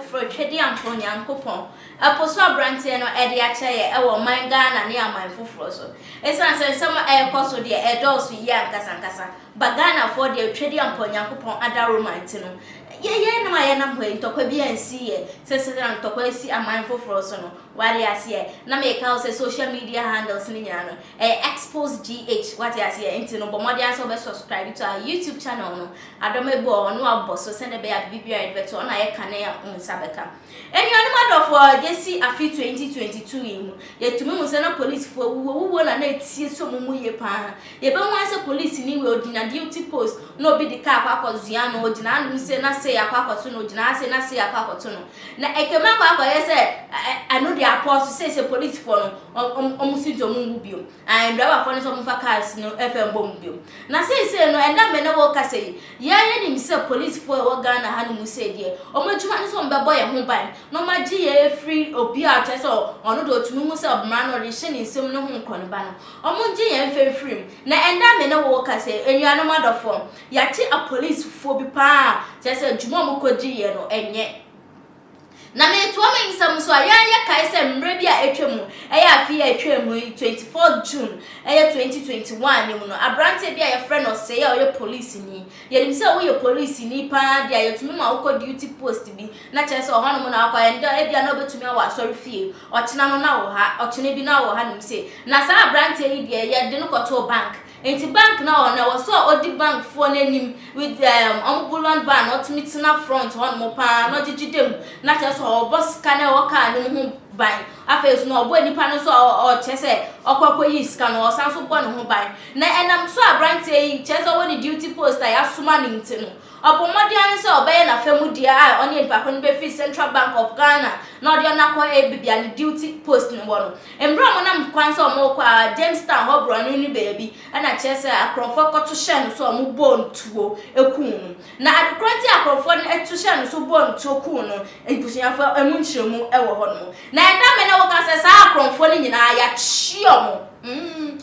foforɔ Twedeampɔn Nyankopɔn ɛpo so aberanteɛ no ɛde akyɛ yɛ ɛwɔ ɔman Ghana ne aman foforɔ so ɛsiane sɛ nsɛm ɛrekɔ so deɛ ɛdɔɔso yie ankasankasa ba Ghanafoɔ deɛ Twedeampɔn Nyankopɔn adaworo man ti no Yɛ yɛn nom a yɛnam hɔ yi, ntɔkwa bi ansi yɛ, sɛ sɛdɛra ntɔkwa asi aman foforɔ so no. W'ate aseɛ? Na meka wo sɛ social media handles no nyinaa no, ɛyɛ expose GH, w'ate aseɛ? Nti no bɔ mmɔden ara sɛ wobɛ subscribe to our YouTube channel no, adɔm abu a ɔno abɔ so sɛdeɛ ɛbɛyɛ a biribi biara a yɛde bɛto hɔ no ayɛ kane a wo nsa bɛka. Enuanom adɔfoɔ, gyesi afe 2022 yi mu, yɛtumi hu sɛ na polisfoɔ wuwuo wuwuo na na etie sɛ wɔn mu ye paa. Yɛbɛhu ara sɛ polisini wei ɔgyina duty post na obi de car akɔ akɔzoa no, ɔgyina hanom sei na sei akɔ akɔto no, ɔgyina ha sei na sei akɔ akɔto no. Na ɛtwam akɔ akɔyɛ sɛ ɛ ɛ ɛno deɛ apɔɔso, seisei polisfoɔ no wɔn wɔn wɔn sintɔ mu nwu bio. Ae, driverfoɔ no sɛ wɔmfa cars no mfa mmɔ mu bio. Na seisei no, ɛnna me ne wo rekasa yi, yɛn ara yɛnim sɛ policefoɔ a ɛwɔ Ghana ha nom sei deɛ, wɔn adwuma ne sɛ wɔbɛbɔ yɛn ho ban na wɔagye yɛn afiri obi a kyerɛ sɛ ɔno deɛ ɔtumi hu sɛ mmara no ɔde rehyɛ ne nsam no ho nkɔneba no. Wɔngye yɛn mfa mfiri mu. Na ɛnna me ne wo rekasa yi, anuanom adɔfoɔ, yɛate apolicefoɔ bi paa a kyerɛ sɛ dwuma a wɔkɔdi yɛ no, ɛnyɛ. Na meretoa me nsɛm so a, yɛn yɛkae sɛ mmerɛ bi a atwam, ɛyɛ afe a atwaa mu yi, 24th June, ɛyɛ 2021 no mu no, aberanteɛ bi a yɛfrɛ no Osei a ɔyɛ polisini, yɛnim sɛ woyɛ polisini pa ara deɛ a, yɛtumi ma wo kɔ duty post bi, na kyerɛ sɛ ɔhɔnom na wakɔ, ɛnda, ebia na ɔbɛtumi awɔ asɔrefie, ɔkyena no na ɔwɔ ha, ɔkyena bi na ɔwɔ hanom sei. Na saa aberanteɛ yi deɛ, yɛde no kɔtoo bank, Enti bank na ɔno ɛwɔ sɛ ɔdi bank foɔ no anim with um, ɔmo bullion ban na ɔtumi tena front hɔ nom paa na ɔgyegye da mu na kyerɛ sɛ ɔbɔ sika na ɛwɔ car nom ho ban afei so na ɔbɔ nipa no nso a ɔkyɛ sɛ ɔkɔ akɔ yi sika no ɔsan so bɔ ne ho ban na ɛnam so abranteɛ yi kyerɛ sɛ ɔwɔ ne duty post a yasoma ne nti no ɔbɔ mmɔden ara sɛ ɔbɛyɛ n'afa mu deɛ a ɔne nipa ko no bɛfiri Central Bank of Ghana na ɔde ɔno akɔ ɛbɛbi a ne duty post no wɔ no Mber a wɔnam kwan sɛ wɔrokɔ a, Jamestown hɔ borɔn no ne beebi na kyerɛ sɛ akorɔmfoɔ kɔto hyɛɛ no so a wɔbɔɔ no tuo kuu no. Na adze kor a ntsi a akorɔmfoɔ no to hyɛɛ no so bɔɔ no tuo kuu no, ebusuafo, emu nkyerɛmu wɔ hɔnom. Na ndɛ mber no wɔka sɛ saa akorɔmfoɔ no nyina yɛakye wɔn.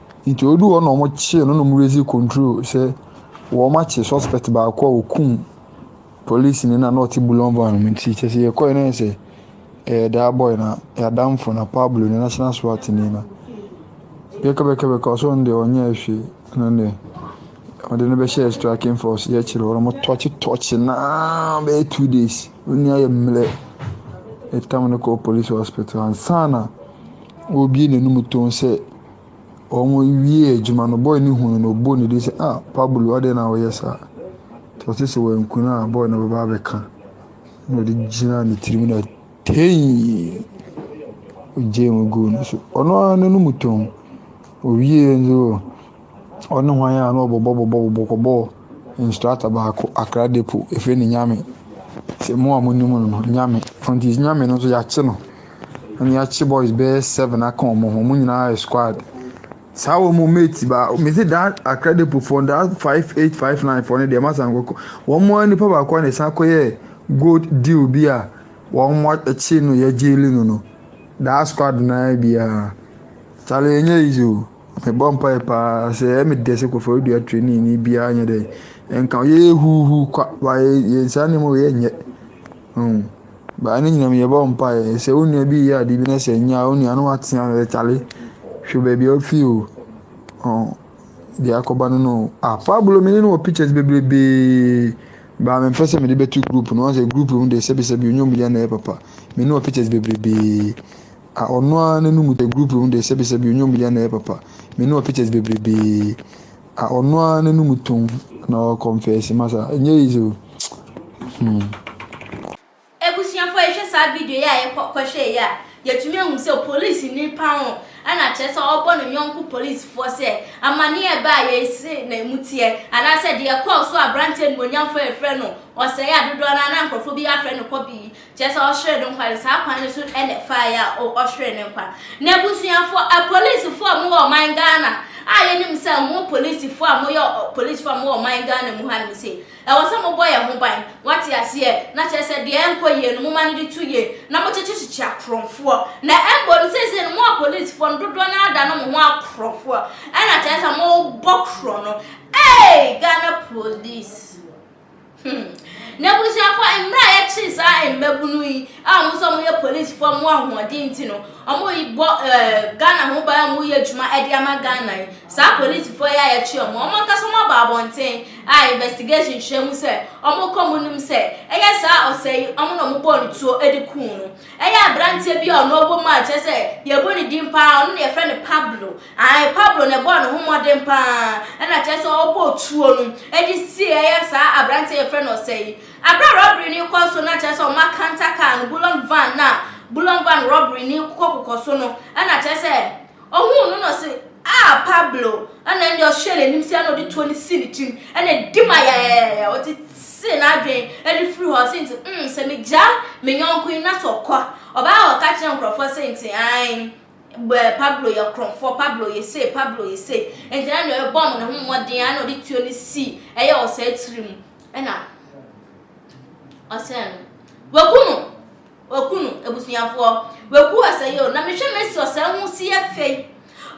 Ntsi odur hɔ na wɔkyee no na wɔdze ridzi control sɛ wɔakye suspect baako a okum polisinyi no a nna ɔtse bouillon van mu ntsi. Kyerɛ sɛ yɛkɔe no ayɛ sɛ yɛyɛ daa boy na yɛadamfo na Pablo nye National SWAT nyi no. Bɛkɛbɛkɛbɛkɛ ɔse ɔno de ɔnnyɛɛ hwee na ndɛ wɔdze no bɛhyɛɛ striking force yɛkyer hɔ na wɔtɔɔkye tɔɔkye no araa bɛyɛ two days. Onua yɛ mberɛ. Yɛtam no kɔɔ police hospital ansaana woebue n'anomu tɔnn sɛ. Wɔwiee adwuma no, boy no hui no, ɔbɔɔ ne din sɛ, Ah, Pablo, adɛn na woyɛ saa? Nti ɔse sɛ wanku no a, boy no bɛba abɛka. Na ɔde gyinaa ne tirim na tei! Ɔgyee mu guu no so. Ɔno ara no no mu tɔn. Ɔwiee nso ɔ, ɔne hwan a na ɔbɔbɔ bɔbɔ bɔbɔ kɔbɔɔ instructor baako Accra Depot, ɛfrɛ no Nyame. Sɛ mo a monim no no, Nyame. Ɔnti Nyame no nso yɛakye no. na yɛakye boys bɛyɛ seven aka wɔn ho. Wɔn nyinaa yɛ squad. Saa wɔn mate ba me se daa Akradipo foɔ no daa five eight five nine foɔ no deɛ masa nkɔkɔ wɔn mu ara nipa baako na ɛsan kɔyɛ gold deal bi a wɔn mo akyi no yɛ gyeeli no no daa squad naa biara kyale ɛnyɛ easy o mebɔ mpae paa sɛ ɛyɛ me dɛ sɛ kɔfɔre dua training ni biara nyɛ dɛ nka yɛyɛ huuhu kwa ba yɛ yɛn saa nneɛma wei yɛ nyɛ. Mm. But ɛno nyinaa mu yɛbɔ mpaeɛ sɛ wo nua bi reyɛ adeɛ bi na sɛ ɛnyɛ a wo nua no watea no sɛ kyale hwɛ baabi a wofi o ɔn deɛ akɔba no no o ah Pablo me ne no wɔ pictures bebrebee baa mempɛ sɛ mede bɛto group no sɛ group no deɛ sɛbisɛbi ɔnyɛ ɔmu deɛ na ɛyɛ papa me ne wɔ pictures bebrebee ah ɔno ara n'anum sɛ group no deɛ sɛbisɛbi ɔnyɛ ɔmu deɛ na ɛyɛ papa me ne wɔ pictures bebrebee Ah ɔno ara n'anum tɔn na ɔkɔnfɛse masa ɛnyɛ easy o. Hmm. Ebusuafo yɛhwɛ saa video yi a yɛkɔhwɛ yi a yɛtumi ahu sɛ polisi ni paho ɛna kyerɛ sɛ ɔbɔ ne yɔnko polisifoɔ sɛ amaneɛ ɛbaa yɛ ese na emu teɛ anaasɛ deɛ ɛkɔɔ so a aberanteɛ nimuonyamfoɔ yɛfrɛ no ɔsɛe adodoɔ no a na nkurɔfoɔ bi afrɛ no kɔbe yi Kyerɛ sɛ ɔhweree ne nkwa no saa kwan no so na ɛfaeɛ a o ɔhweree ne nkwa. N'abusuafoɔ, apolisifoɔ a mowɔ ɔman Ghana a yɛnim sɛ mo polisifoɔ a moyɛ polisifoɔ a mowɔ ɔman Ghana mu ha nom sei, ɛwɔ sɛ mobɔ yɛn ho ban, moate aseɛ, na kyerɛ sɛ deɛ ɛnkɔ yie no moma no de to yie na mokyekyekyekye akorɔmfoɔ. Na mmom no seesei no mo apolisifoɔ no dodoɔ no ara da no mo ho akorɔmfoɔ ɛna kyerɛ sɛ mobɔ korɔ no ei Ghana polisi. Hmm. N'abusuafo, mmerɛ a yɛkyee saa mmabunu yi a wɔn nso wɔyɛ polisifoɔ a wɔn ahoɔden nti no, wɔbɔ ɛɛ eh, Ghana ho ban a wɔyɛ adwuma de ama Ghana yi. Saa polisifoɔ yi a yɛkye wɔn, wɔn ankasa wɔn aba abɔnten a investigation kyerɛ mu sɛ wɔkɔ mu nim sɛ ɛyɛ saa ɔsɛ yi wɔn na wɔbɔɔ ne tuo de kuu no. Ɛyɛ aberanteɛ bi a ɔno ɔbɔ mu a kyerɛ sɛ yɛbɔ ne din paa ɔno na yɛfrɛ no Pablo. Aane, Pablo na ɛbɔɔ ne ho mmɔden pa ara na kyerɛ sɛ ɔbɔɔ tuo no de sieeɛ saa aberanteɛ a yɛfrɛ no Ɔsɛe yi. Berɛ a rɔbere no rekɔ so no na kyerɛ sɛ wɔakanta kaa no, Bullion Van no a Bullion Van rɔbere no rekokɔkokɔ so no na kyerɛ sɛ ɔhuu no na ɔse ah Pablo na ɛnneɛ ɔhwɛɛ n'anim sei na ɔde tuo no sii ne tirim na ɛdi ma yayayaya ɔtetee n'adwene de firi hɔ se nti mm sɛ megyaa me yɔnko yi na sɛ ɔkɔ ɔbaa ɔka kyerɛ nkurɔfoɔ se nti aane Bɛɛ Pablo yɛ korɔmfoɔ, Pablo yɛ sei, Pablo yɛ sei. Enti na nea ɔbɔ ne ho mmɔden ara na ɔde tuo no si ɛyɛ ɔsɛe tiri mu. Ɛna ɔsɛe no. Waku no. Waku no, abusuafoɔ. Waku ɔsɛe o. Na mehwɛ Messi ɔsɛe ho si yɛ fɛ yi.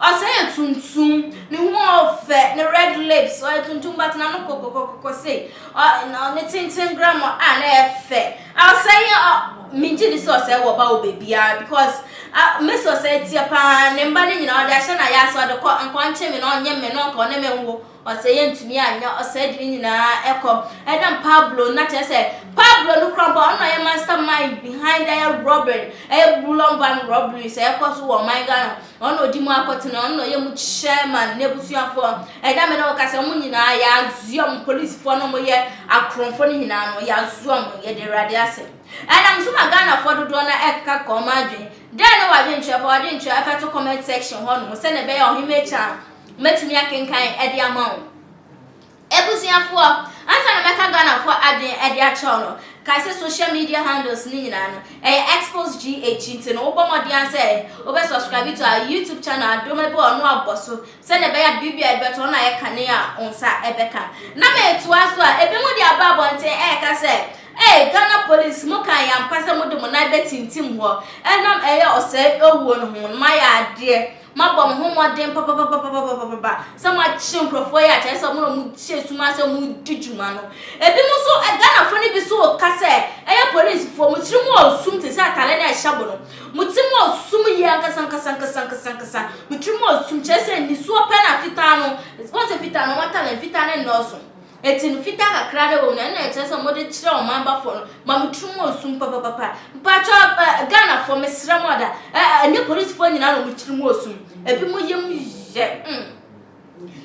Ɔsɛe yɛ tuntum. Ne ho a ɔfɛ, ne red lips, ɔyɛ tuntum but n'ano kɔkɔkɔkɔ sei. Ɔ, na ɔne tenten grama a na ɛyɛ fɛ. Ɔsɛe a migye di sɛ ɔsɛe wɔ ba wɔ baabiara because ah, me sɛ ɔsɛe teɛ paa, ne mba no nyinaa ɔde ahyɛ n'ayaaso, ɔde kɔ, nka ɔnkye me na ɔnye mme na ɔnka ɔne me nwo, ɔsɛe antumi anyɛ, ɔsɛe de ne nyinaa ɛkɔ. Ɛdam Pablo no, na kyerɛ sɛ Pablo no kora mpo ɔno na ɔyɛ mastermind behind ɛyɛ robbery, ɛyɛ bulɔn van robberies a ɛkɔ so wɔ ɔman Ghana. Ɔno na ɔdi mu akɔtena, ɔno na ɔyɛ mu chairman, n'abusuafoɔ, ɛda me ne wo kasa, wɔn nyinaa yɛazoa wɔn, polisifoɔ no a wɔyɛ akorɔmfoɔ no nyinaa no, yɛazoa wɔn, yɛde Awurade asɛm. Ɛnam nso ma Ghanafoɔ dodoɔ no ɛkekaka wɔn adwene. Dɛn ne w'adwenkyerɛ? Fa w'adwenkyerɛ ɛfɛto comment section hɔnom sɛdeɛ ɛbɛyɛ a Ɔhene Mɛkyɛ a mɛtumi akenkan de ama wo. Abusuafoɔ, ansa na mɛka Ghanafoɔ adwene de akyerɛw no, kae sɛ social media handles no nyinaa no, ɛyɛ Xpost GH, nti no wobɔ mmɔden ara sɛ wobɛ subscribe to our YouTube channel adom ɛbɔɔ no abɔ so sɛdeɛ ɛbɛyɛ a biribi a yɛde bɛto hɔ no ayɛ kane a wo nsa bɛka. Na metoa so a, ebinom de aba abɔnten reka sɛ, Ei, Ghana Police, mokaa yɛn ampa sɛ mode mo nan bɛtintim hɔ ɛnam ɛyɛ ɔsɛe owuo no ho, na moayɛ adeɛ. Mabɔ mo ho mmɔden papapapapapapapa sɛ moakyere nkurɔfoɔ yi a kyerɛ sɛ wɔn na wɔhyɛ sum ase wɔn di dwuma no. Ebinom nso, Ghanafoɔ no bi nso reka sɛ ɛyɛ policefoɔ. Mo tiri mu wɔ sum te sɛ atadeɛ no a ɛhyɛ mo no. Mo ti mu wɔ sum yie ankasa ankasa ankasa ankasa ankasa. Mo tiri mu wɔ sum kyerɛ sɛ nisuo pɛ na fitaa no, wohu sɛ fitaa no wɔn atade no, fitaa no nnɔɔso. Enti no fitaa kakra na ɛwɔ mu no ɛna ɛkyerɛ sɛ wɔde kyerɛ ɔman bafoɔ no ma mo tiri mu ɔsum papapapa mpakyɛ eh Ghanafoɔ mesrɛ mo ada eh ɛnyɛ polisifoɔ nyinaa na wɔn tiri mu ɔsum ebi mo yam yɛ mm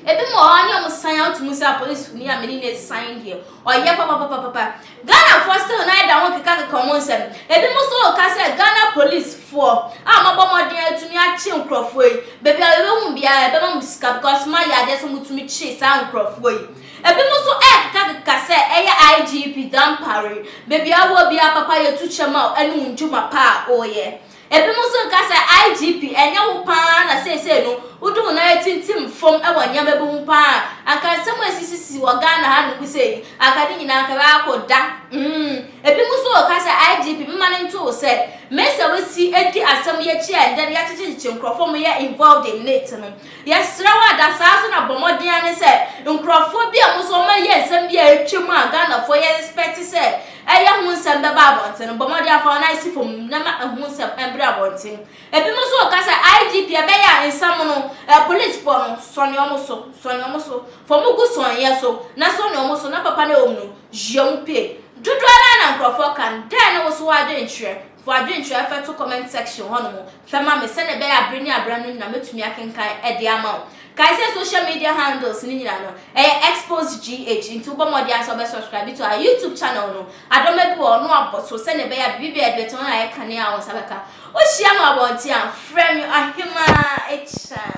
ebi mo wɔ hɔ a ne wɔn san out mu sɛ apolisi ni a mene no ɛsan deɛ ɔyɛ papapapapa Ghanafoɔ still nan da ho keka keka ɔmo nsɛm. Ebi mo so reka sɛ Ghana police foɔ a moabɔ mmɔden atumi akye nkorɔfoɔ yi, baabi a yɛbɛhu mo biara yɛbɛma mo sika because moayɛ adeɛ sɛ motumi kye saa nkorɔfoɔ yi. Ebi mo so ɛrekeka keka sɛ ɛyɛ IGP Dampare, baabi a woɔ biara papa yɛtu kyɛ ma wo ɛne wo ndwuma pa a woyɛ. Ebinom nso reka sɛ, IGP, ɛnyɛ wo pa ara na seesei no wode wo nan atintim fam wɔ nneɛma bi ho pa ara a, anka nsɛm a esisisisi wɔ Ghana hanom bi sɛɛ yi, anka ne nyinaa anka ɛbɛyɛ akɔda. Mm. Ebinom nso reka sɛ, IGP, mma no nto wo sɛ, me sɛ woasi adi asɛm yi akyi a ɛnnɛ no yɛakyekyekyekye nkurɔfoɔ a wɔyɛ involved in it no. Yɛsrɛ wo a, da saa so na bɔ mmɔden ara ne sɛ nkurɔfoɔ bi a wɔn nso wɔayɛ nsɛm bi a atwam a Ghanafoɔ yɛ respect sɛ Ɛyɛ ho nsɛm bɛba abɔnten no, bɔ mmɔden afa wo nan si fam na ma ɛho nsɛm mmra abɔnten. Ebinom nso reka sɛ, IGP, ɛbɛyɛ a nsɛm no, eh, polisifo no, sɔne wɔn so, sɔne wɔn so, fa wɔn gu sɔneeɛ so na sɔne wɔn so na papa no a ɛwɔ mu no, yɛ wɔn pie. Dodoɔ no ara na nkurɔfoɔ ka no. Dɛn ne wo so w'adwenkyerɛ? Fa adwenkyerɛ fa to comment section hɔnom fa ma me sɛnea ɛbɛyɛ a bere ne abere ano nyinaa mɛtumi akenkan de ama wo. Kae sɛ social media handles no nyinaa no, ɛyɛ Exposed-GH, nti wobɔ mmɔden ara sɛ wobɛ subscribe to our YouTube channel no. Adɔma bi wɔ hɔ no abɔ so sɛnea ɛbɛyɛ a biribi biara a yɛde bɛto no ayɛ kanea a wo nsa bɛka. Wohyia me wɔ abɔnten a, frɛ me Ɔhemaa Akyinnade.